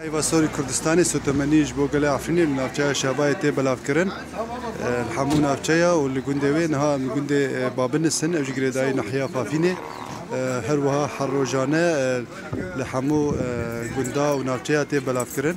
Heyva Sorî Kurdistanê sotemenî ji bo gelê Efrînê li navçeya Şabayê tê belavkirin. Li hemû navçeya û li gundê wê niha em li gundê Babinis in ew jî girêdayî nahiya Fafînê. Her wiha her rojane li hemû gunda û navçeya tê belavkirin.